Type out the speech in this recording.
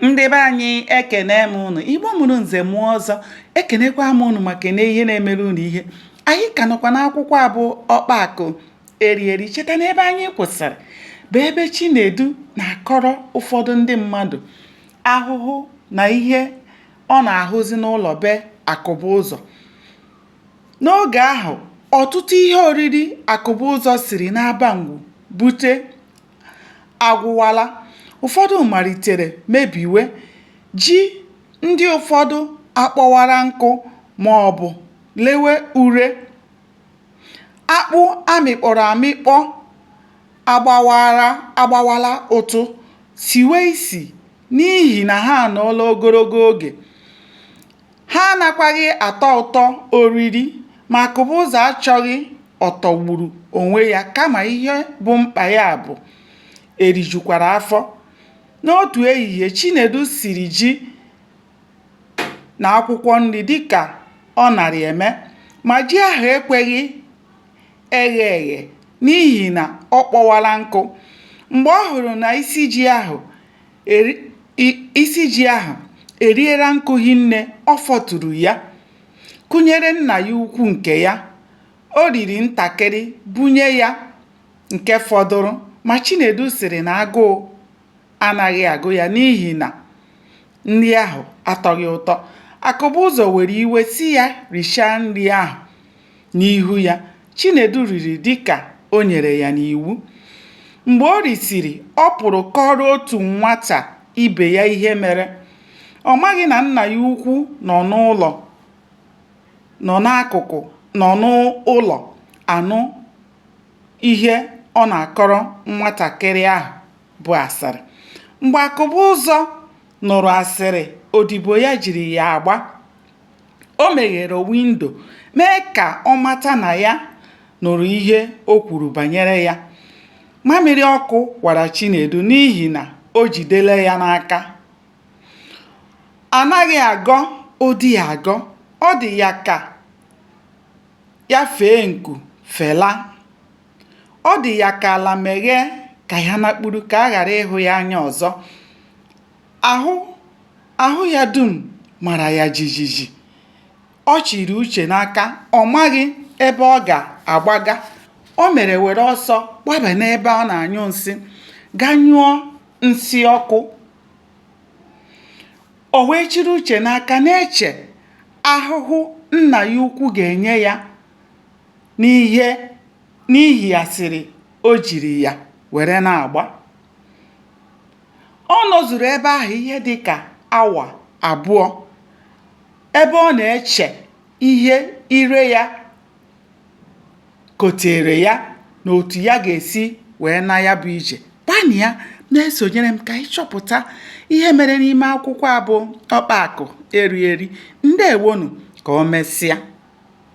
ndị be anyị ekene m ụnụ igbo mụrụ nze mụọ ọzọ ekenekwa m ụnụ ma kene ihe na-emere ụnụ ihe anyị ka nọkwa n'akwụkwọ a bụ ọkpa akụ eri eri cheta na ebe anyị kwụsịrị bụ ebe chinedu na-akọrọ ụfọdụ ndị mmadụ ahụhụ na ihe ọ na-ahụzi n'ụlọ be akụbụzọ n'oge ahụ ọtụtụ ihe oriri akụbụzọ siri n'abangwu bute agwụwala, ụfọdụ malitere mebiwe, ji ndị ụfọdụ akpọwara nkụ ma ọ bụ lewe ure, akpụ a mịkpọrọ amịkpọ agbawala ụtụ, siwe isi n'ihi na ha anọọla ogologo oge. Ha anakwaghị atọ ụtọ oriri, ma Akụbụzọ achọghị ọtọgburu onwe ya kama ihe bụ mkpa ya bụ erijukwara afọ. N'otu ehihie, Chinedu siri ji na akwụkwọ nri dịka ọ na-arị eme, ma ji ahụ ekweghị eghe eghe n'ihi na ọ kpọwala nkụ. Mgbe ọ hụrụ na isi ji ahụ isi ji ahụ eriela nkụ hinne ọ fọturu ya kụnyere nna ya ukwu nke ya o riri ntakịrị bunye ya nke fọdụrụ ma Chinedu sịrị na agụụ anaghị agụ ya n'ihi na nri ahụ atọghị ụtọ Akụbụzọ were iwe sị ya richaa nri ahụ n'ihu ya. Chinedu riri dịka o nyere ya n'iwu. Mgbe o risiri, ọ pụrụ kọọrọ otu nwata ibe ya ihe mere. Ọ maghị na nna ya ukwu nọ n'akụkụ nọ n'ụlọ anụ ihe ọ na-akọrọ nwatakịrị ahụ bụ asịrị. Mgbe Akụbụzọ nụrụ asịrị odibo ya jiri ya agba, O meghere windo, mee ka ọ mata na ya nụrụ ihe o kwuru banyere ya. Mamịrị ọkụ wara Chinedu n'ihi na o jidela ya n'aka. Anaghị agọ ụdị ya agọ. Ọ dị ya ka ya fee nku felaa. Ọ dị ya ka ala meghee ka ya nakpuru ka a ghara ịhụ ya anya ọzọ. Ahụ ya dum mara ya jijiji. Ọ chịrị uche n'aka, ọ maghị ebe ọ ga-agbaga. O mere were ọsọ gbaba n'ebe a na-anyụ nsị, gaa nyụọ nsị ọkụ. O wee chịrị uche n'aka na-eche ahụhụ nna ya ukwu ga-enye ya n'ihi asịrị o jiri ya were na-agba. ọ nọzuru ebe ahụ ihe dị ka awa abụọ ebe ọ na-eche ihe ire ya kotere ya na otu ya ga-esi wee naa ya bụ ije gbanịa na-esonyere m ka ị chọpụta ihe mere n'ime akwụkwọ a bụ ọkpa akụ eri eri ndeewonụ ka o mesịa